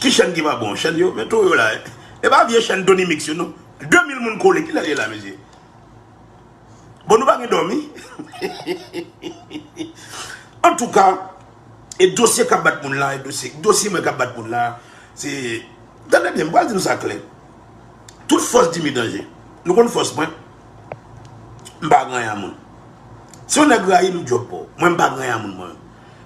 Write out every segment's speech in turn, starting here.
Ki chèn ki pa bon? Chèn yo? Men tou yo la. E pa vye chèn Tony Mix yo non. 2000 moun kole. Kilè ye la mesye? Bon nou pa gen dòmi? Antouka, e dosye k ap bat moun la, dosye mwen k ap bat moun la, se, tande byen, m pral di nou sa klè. Tout fòs di mi danje. Nou konn fòs mwen? M pa gran ya moun. Si yon nèg rayi m, m djòp pou ou. Mwen m pa gran ya moun mwen.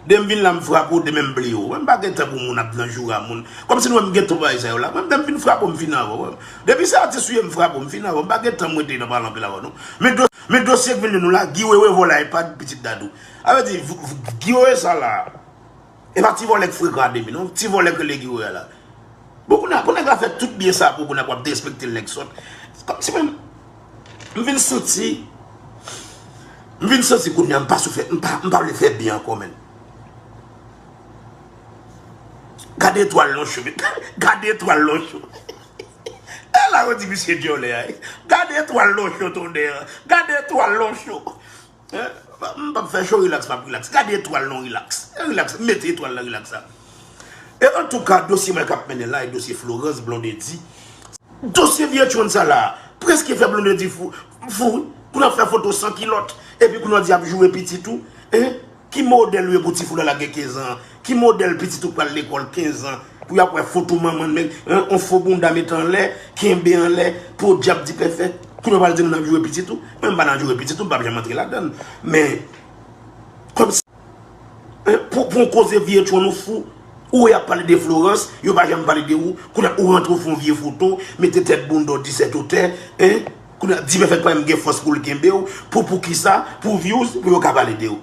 Demen m vin la m frape w demen m bliye w wè m pa gen tan pou moun ap nan joura moun kòm si nou wè m gen tan pou bagay sa yo la mwen m demen fin frape w m fini avè w wè m depi se atis ou ye m frape w m fini avè w m pa gen tan m rete nan pale anpil avè w non men do men dosye k vin li nou la Guy Wewe vòlè ipad pitit Dadou a vle di Guy Wewe sa la e pa ti vòlè k frekan a demi non ti vòlè k rele Guy Wewe a la bon kounye a pou nèg la fè tout byen sa pou kounye a pou ap derespekte l nèg sòt kòm si mwen m. M vin santi M vin santi kounya m pa sou fè M pa vle fè byen ankò menn Gade etwal non chou Gade etwal non chou E la yo di misye dyòlè a Gade etwal non chou tonnè Gade etwal non chou Eh, m pap fè show relax map relax. Gade etwal non relax. Eh relax, mete etwal nan relax la. E antouka dosye mwen kap mennen la e dosye Florence Blondedy. Dosye vye tchonn sa la preske fè Blondedy fou fou wi. Pou nan fè foto san kilòt epi pou nan di ap joure pitit ou. Hein? Ki modèl ou ye pou tifoul la lage 15 ans Ki modèl pitit ou k pral lekòl 15 an pou yap wè foto manman nèg hein on fo bounda mete anlè kenbe anlè podyab di pèfè kounya ou pral di moun ap joure pitit ou mwen m pa nan joure pitit ou m pap janm antre ladann men kòmsi hein pou pou on koze vye tchon nou fou ou wè yap pale de Florence yo pa janm pale de ou kounya ou rantre ou fon vye foto mete tèt bounda w di sèt ou tè hein kounya di pèfè t pa janm gen fòs poul kenbew pou poukisa pou vyouz pou yo ka pale de ou.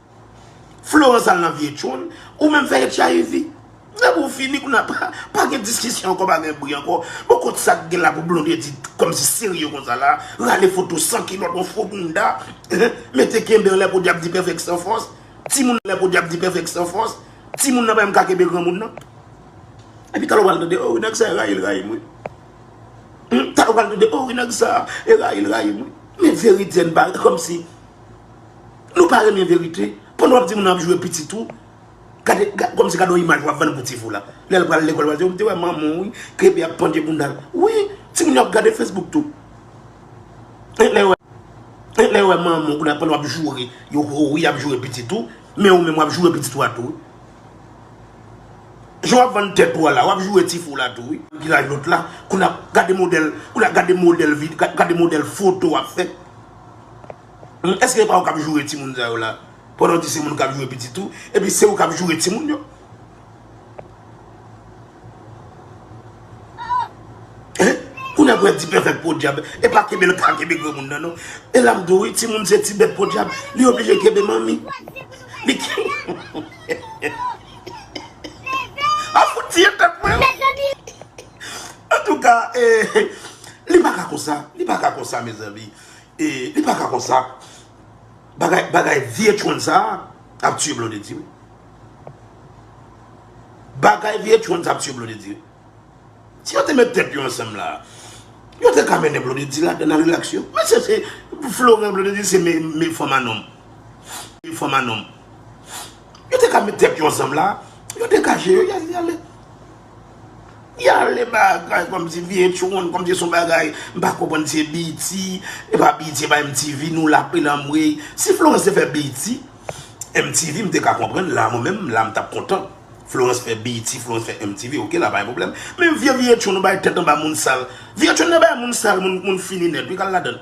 Florence al nan vye tchoul. Ou menm fè hiv. Depi ou fini kounye a pa gen diskisyon ankò, pa gen bri ankò. Bon kot sa k gen la pou Blondedy kòmsi serye konsa la. Rale foto san kilòt yon fo bounda. Mete kenbe anlè podyab di pèfèk san fòs. Timoun anlè podyab di pèfèk san fòs. Timoun nan pa menm ka kenbe granmoun nan. Epi talè w pral tande oh wi nèg sa e rayi l rayi m wi. Talè w pral tande oh wi nèg sa e rayi l rayi m wi. Men verite an kòmsi. Nou pa renmen verite pandan wap di moun ap jwe pitit ou gade komsi gade yon imaj wap vann pou ti fou la lèl pral lekòl wap di mte wè manman wi kebe ap pandye boundal wi ti moun yo ap gade facebook tou e lèw wè manman ou pandan wap joure yo ho wi ap joure pitit ou men ou menm wap joure pitit ou a tou wi jan wap vann tèt ou a la wap joure ti fou la tou wi ki laj lòt la kounye a gade modèl kounye a gade modèl vid gade modèl foto wap fè. Humm eske epa ou kap joure ti moun sa yo la pandan ou di se moun kap joure pitit ou epi se ou kap joure ti moun yo Hein kounye a pou yap di pèfèk podyab epa kenbe l ka kenbe granmoun nan non elam di w wi ti moun se ti bèt podyab li oblije kenbe manmi li ap fout tiye tèt mwen wi antouka ee li paka konsa li paka konsa mezanmi. E li pa ka konsa. Bagay bagay vnh sa ap tiye blondedy wi. Bagay vnh sa ap tiye blondedy wi. Si yo te met tèt yo ansanm la. Yo te ka mennen blondedy la nan relax yo. Men se se florent blondedy se men fanm a nonm. Men fanm a nonm. Yo te ka met tèt yo ansanm la. Yo degaje yo yale yale. Li ale bagay komsi vietyonn komsi son bagay m pa konprann se BT epa BT epa MTV nou la pil anmweyy si Florence te fè BT MTV m te ka konprann la mwen menm la m tap kontan Florence fè BT Florence fè MTV ok la pa gen pwoblèm men vye vietyonn nou bay tèt anba moun sal vietyonn nan bay moun sal moun fini nèt wi kal ladann.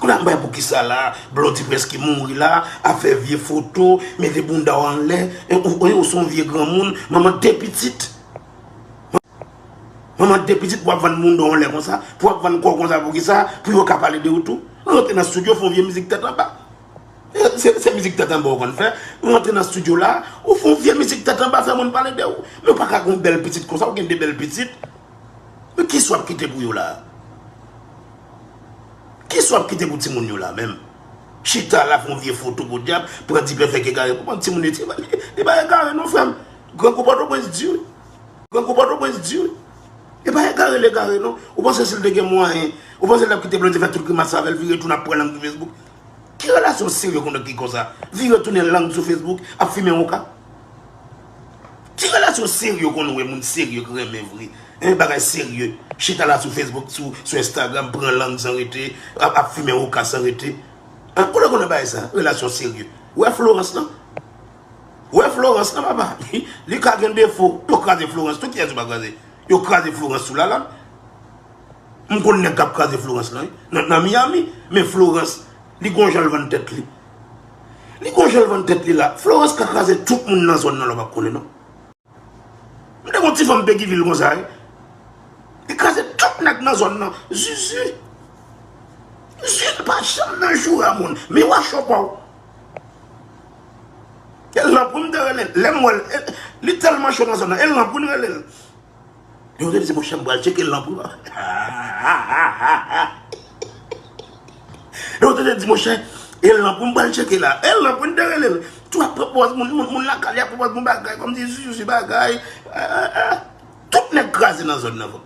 Koulya m bay poukisa la blondy preske mouri la ap fè vye foto mete bounda w anlè ou son vye granmoun manman de pitit manman de pitit wap vann bounda w anlè konsa pou wap vann kòw konsa poukisa pou yo ka pale de ou tou rantre nan studio fon vye mizik tèt anba se mizik tèt anba ou konn fè rantre nan studio la ou fon vye mizik tèt anba fè moun pale de ou men ou paka gon bèl pitit konsa ou gen de bèl pitit. Men kisa wap kite pou yo la? Kisa wap kite pou timoun yo la menm? Chita la fon vye foto podyab, pran dipèfèk egare pou bann timoun yo. Li pa egare non frèm. Grangou pòtoprens di wi. Grangou pòtoprens di wi. Li pa egare l egare non. Ou panse si l te gen mwayen, ou panse l tap kite blondie fè tout grimas avè l vire tou nan pran nan gri facebook? Ki relasyon serye konn ki konsa? Vire tounen lang sou Facebook ap fimen hookah? Ki relasyon serye konn wè moun serye k renmen vre hein bagay serye chita la sou Facebook sou Instagram pran lang san rete ap fimen hookah san rete hein kote w konn wè bagay sa relasyon serye? Wè Florence nan wè Florence nan papa li ka gen defo yo kraze Florence tou kiyès yo pa kraze yo kraze Florence sou Lalanne. M konn nèg kap kraze Florence lan wi nan Miami men Florence li gon janl vann tèt li li gon janl vann tèt li la Florence ka kraze tout moun nan zòn nan lè w pa konnen non m te gon ti fanm Peguiville konsa wi li kraze tout nèg nan zòn nan zuzu zuzu li pa janm nan joura moun mi wa cho pa w e lanpou m te rele l lè m wè l li tèlman cho nan zòn nan e lanpou n rele l. Yon jodi se monchè m pral tcheke lanp ou an. Yon jodi monchè e lanp ou m pral tcheke la. E lanp ou m te rele l. Tou ap pwopòz moun, moun la kalya pwopòz moun bagay kòm si si si bagay. Tout nèg kraze nan zòn nan vò.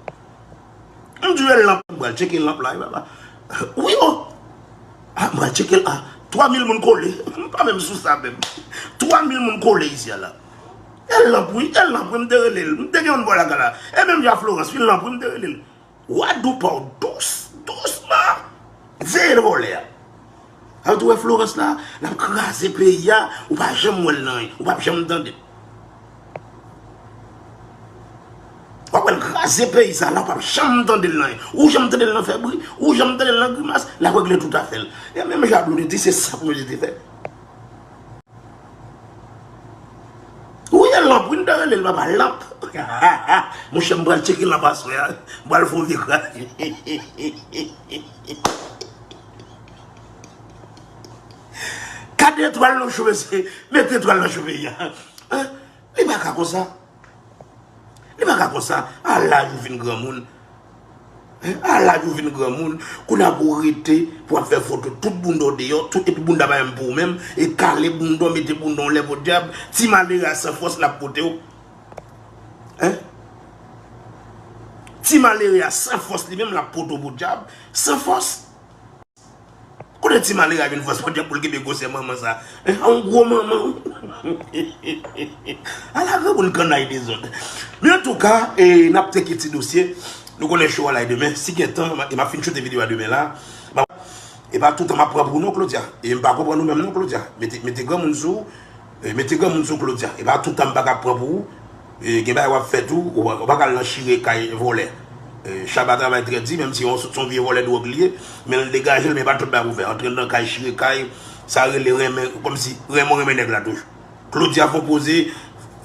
M di yo e lanp m pral tcheke lanp la. Wi o. A m pral tcheke l a. 3 mil moun kole. M pa menm sou sa menm. 3 mil moun kole isi a la. E lanp wi, e lanp wi m te rele l. M te gen yon bò laga la. E menm jan a Florans wi, lanp wi m te rele l. Wa dou pa w dous, dousman. Veye l vòlè a. An tou wè Florans la, l ap kraze peyi a, ou pa janm wè l nan anyen, ou pa p janm tande l. W ap wè l kraze peyi sa la, ou pa p janm tande l nan anyen. Ou janm tande l nan fè bri, ou janm tande l nan grimas, l ap regle tout afè l. E menm jan a Blondedy, se sa Blondedy te fè. Ou ye lanp wi m ta relel papa lanp monchè m pral tcheke lanp aswè a m pral fon vye kraze Kat etwal nou cheve se met etwal nan cheve ya. Li pa ka konsa. Li pa ka konsa. A laj ou vin granmoun. A laj ou vin granmoun. Kounya pou w rete, pou w ap fè foto tout bounda w deyò, tout epi bounda pa menm pou w menm, e kale bounda w, mete bounda w lè podyab, ti malere a san fòs l ap pote w. Hein? Ti malere a san fòs li menm l ap pote w podyab, san fòs. Kote ti malere a jwenn fòs podyab pou l kenbe gwosè manman sa. Men sa yon gwo manman wi. A la granmoun kannay dezòd. Men an tou ka, n ap tcheke ti dosye. Nou konnen show a lay demen. Si gen tan, e m ap fin choute videyo a demen la. E pa toutan m ap pran pou w non Claudia. E m pa konprann ou menm non Claudia. Mete granmoun sou ou. Mete granmoun sou claudia. Epa toutan m paka pran pou ou gen bagay wap fè tou ou paka al nan chire kay vòlè Shabba travay trè di menm si son vye vòlè dwòg li ye men l degajel men epa tout bagay pou fè antre nan kay chire kay sa rele renmen kòmsi renmen ou renmen nèg la toujou Claudia fon poze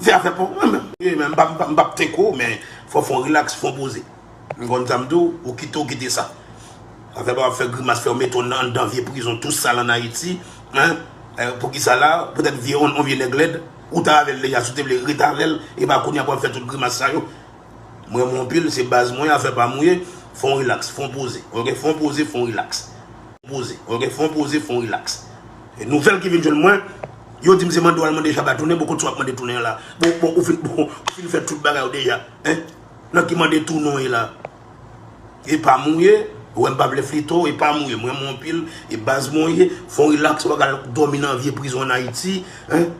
fè afè paw mwen menm m pap tenk ou men fò fon relax fon poze. M konn sa m di w, ou kite ou kite sa. Afè pa wap fè grimas fè w mete w anndan vye prizon tou sal an Ayiti hein poukisa la poutèt vye yon vye nèg lèd ou ta avèl deja si w te vle ret avèl epa kounya pou wap fè tout grimas sa yo m renmen w anpil se baz mwen afè pa m ou ye fon w relax fon w poze ok fon w poze fon w relax poze ok fon w poze fon w relax nouvèl ki vin jwenn mwen yo di m se mande w al mande Shabba tounen bon kot sa wap mande tounen an la bon ou fin fè tout bagay ou deja hein. Nan ki mande tou non ye la. Epa m ou ye, ou wè m pa vle flito, epa m ou ye, m renmen w anpil, e baz mwen ou ye, fè yon relax wap al dòmi nan vye prizon an Ayiti, hein,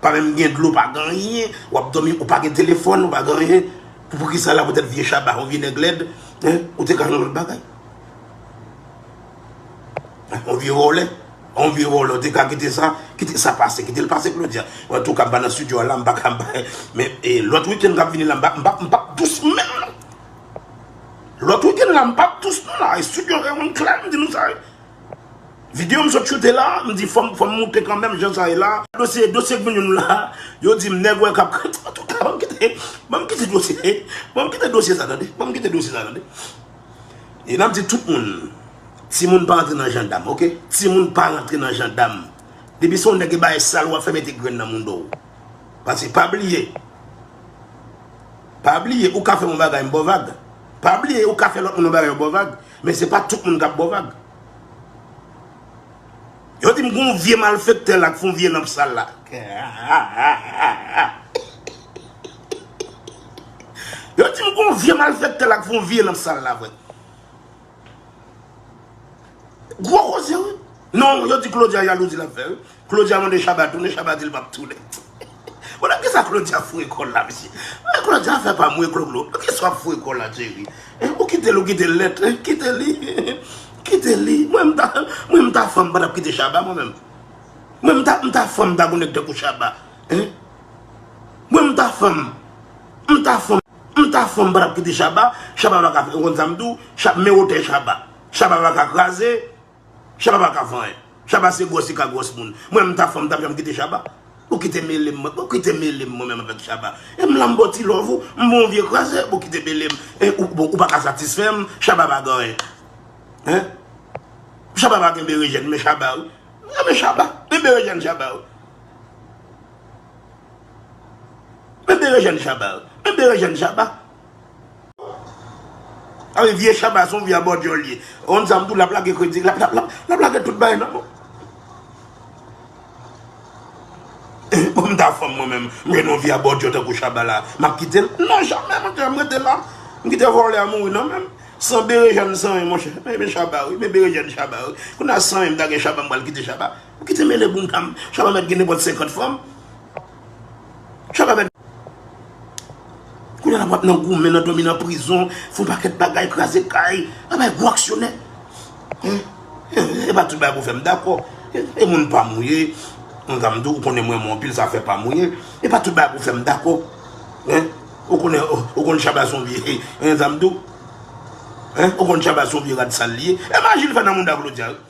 pa menm gen dlo pa gen anyen, wap dòmi, ou pa gen telefòn, ou pa gen anyen, poukisa la poutèt vye shabba, yon vye nèg lèd, hein, ou te ka jwenn yon lòt bagay. On vye vòlè, on vye vòlè ou te ka kite sa, kite sa pase, kite l pase Claudia. An tou ka m pa nan studio a la, m pa ka men e lòt week-end k ap vini la m pa m pa m pa p dous menm non. Lòt week-end la m pa p dous non la e studio sa yo m klè m di nou sa. Video m sot choute la, m di fò m fò m moute kanmenm jan sa ye la. Dosye dosye k vin jwenn m la, yo di m nèg wè k ap an tou ka ban m kite ban m kite dosye ban m kite dosye sa tande ban m kite dosye sa tande. E map di tout moun, timoun pa antre nan jandam ok, timoun pa rantre nan jandam Depi se yon nèg ki ba e sal wap fè mete grenn nan moun dow Paske pa bliye, pa bliye ou ka fè yon bagay m baw vag Pa bliye ou ka fè lòt moun yon bagay yo baw vag Men se pa tout moun kap baw vag Yo dim gon vye malfektè la k fon vye lanp sal la. Yo dim gon vye malfektè la k fon vye lanp sal la vre. Gwo koze wi. Non yo di Claudia jalouzi lap fè wi. Claudia mande Shabba tounen Shabba dil pap tounen. Bon nan kisa Claudia foure kòl la mesye An Claudia afè pa mwen Cloclo nan kisa wap foure kòl la Jerry hein ou kitel ou kite lèt hein kite li kite li mwen mta mwen mta fanm mpa tap kite Shabba mwen menm mwen mta mta fanm mta gon nèg tankou Shabba hein mwen mta fanm mta fanm mta fanm mpa tap kite Shabba Shabba paka fè ou konn sam diw Shabba men wotè Shabba Shabba paka kraze Shabba pa ka fè anyen. Shabba se gwòs li ka gwòs moun. Mwen menm m ta fanm m tap janm kite Shabba? Bon kite melem mwen. Bon kite melem mwen menm avèk Shabba. E m la m baw ti love ou. M bon w vye kraze. Bon kite melem. E bon ou pa ka satisfè m. Shabba pa gen anyen. Hein? Shabba pa gen berejèn men Shabba wi. M renmen Shabba. Men berejèn Shabba wi. Men berejèn Shabba wi. Men berejèn Shabba. Awi vye shaba son vye abòdyòl ye on zam tou lap lage kritik lap lap lap lap lage tout bagay nan mou pou m ta fanm mwen menm m jwenn yon vye abòdyò tankou shaba la map kitel nan jamè mwen te m rete la m kite vòlè a mouri nan menm san berejèn san ren monchè men men shaba wi men berejèn shaba wi kounya san ren m ta gen shaba m pral kite shaba m kite mele boum ta m shaba mèt gen nenpòt 50 fanm. Chak avèk Kounye la wap nan goumen, nan dòmi nan prizon, fon pakèt bagay, kraze kay, wap bay gwo aksyonè. E pa tout bagay pou fèm dakò. E moun pa mou ye. Moun sa m di w, ou konnen m renmen w anpil, sa fè pa mou ye. E pa tout bagay pou fèm dakò. Ou konnen, ou konnen Chaba son vye, e konnen sa m di w. Ou konnen Chaba son vye rad sal li ye. E maji l fè nan mouda Claudia yo.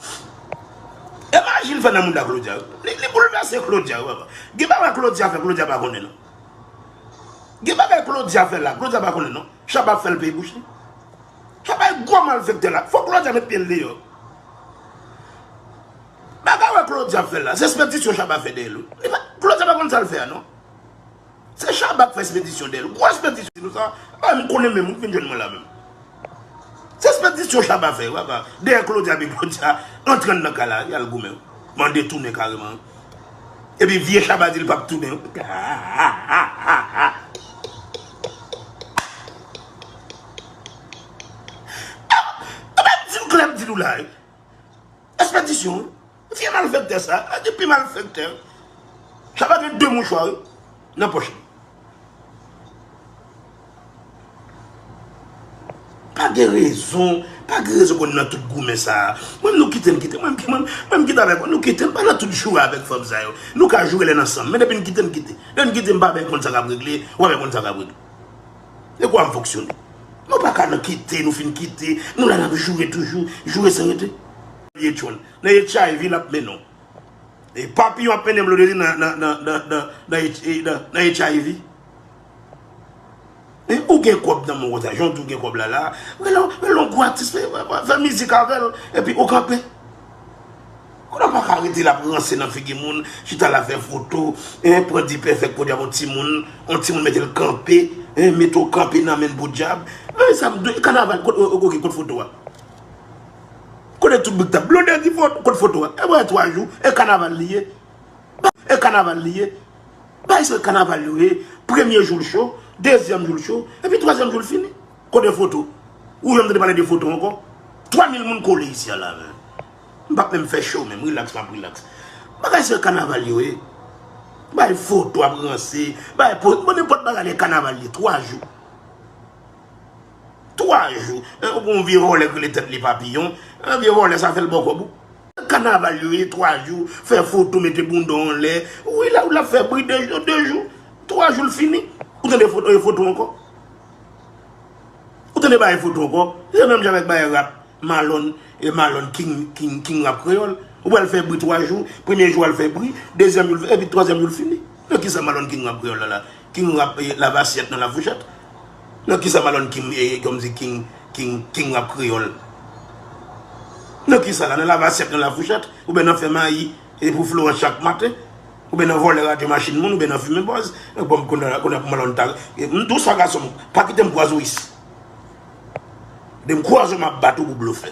E maji li fè nan mouda Claudia yo. Li boulvèse Claudia yo. Gen bagay Claudia fè Claudia pa konnen non. Gen bagay Claudia fè la Claudia pa konnen non. Chaba ap fèl peye bouch li. Chaba e gwo malfèktè la. Fòk Claudia met pyel deyò. Bagay wè Claudia ap fè la. Se spèdisyon chaba fè dèyèl wi. Claudia pa konnen sal fè a non. Se Shabba k fè spedisyon dèl. Gwo spedisyon sa a m konnen menm ou fin jwenn mwen la menm. Se spedisyon Shabba fè yo ava dèyè Claudia epi Claudia antre anndan kay la yal goumen. Mande tounen kareman. Epi vye Shabba di l pap tounen. Anben di m klè m di nou la. Espedisyon wi. Vye malfektè sa a gen pi malfektè wi. Sa pa gen 2 mouchwa wi nan pòch li. Pa gen rezon, pa gen rezon pou n nan tout goumen sa a. Mwen nou kite m kite, mwen m kite avèk ou, nou kite m pa nan tout joure avèk fanm sa yo. Nou ka joure lè n ansanm, men depi n kite m kite. Lè n kite m pa bè konn sa k ap regle, ou pa bè konn sa k ap regle. E kwa m fonksyone. Nou pa ka nan kite, nou fin kite, nou la n ap joure toujou, joure san rete. Ye John. Nan hiv lap mennen w. E papiyon ap mennen blondedy nan hiv. Men ou gen kob nan men w konsa jan w di w gen kob la la. Rele yon gwo atis fè mizik avè l epi ou kanpe. Kote w paka rete la ap ranse nan figi moun, chita la fè foto, pran dipèfèk podyab yon timoun, yon timoun mete l kanpe, mete w kanpe nan men l podyab. Kanaval ok kot foto a. Kote tout bgy tap. Blonde di foto kot foto a. Ebyen 3 jou e kanaval li ye. E kanaval li ye. Bay se kanaval yo ye. Premye jou l cho. Dezyèm jou l cho. Epi twazyèm jou l fini. Kote foto. Ou janm tande pale de foto anko. 3000 moun kole isi a la menm. M pap menm fè show menm. Relax map relax. Bagay se kanaval yo ye. Bay foto ap ranse. Bay poz. Bon nenpot bagay le kanaval li ye. 3 jou. 3 jou ou gen yon vye vòlè ki rele tèt li papiyon an vye vòlè sa fèl bò kòb ou. Kanaval yo ye 3 jou fè foto mete bounda w anlè wi la ou lap fè bri 2 jou 2 jou 3 jou l fini ou tande foto e foto ankò ou tande bagay foto ankò se menm jan avèk bagay rap malòn e malòn king king king rap kreyòl ou pral fè bri 3 jou premye jou al fè bri dezyèm jou epi twazyèm jou l fini nan kisa malòn king rap kreyòl la la king rap lavasyèt nan lafouchèt. Nan kisa malone king ye kom si king king king rap kreyol nan kisa la nan lave asyèt nan la fouchèt ou byen nan fè mayi e pou florans chak maten ou byen nan volè radyo machin moun ou byen nan fimen bòz nan banm konn nan konn malone ta m dou sa gasonm pa kitem kwaze w is dem kwaze w map bat ou pou blofè.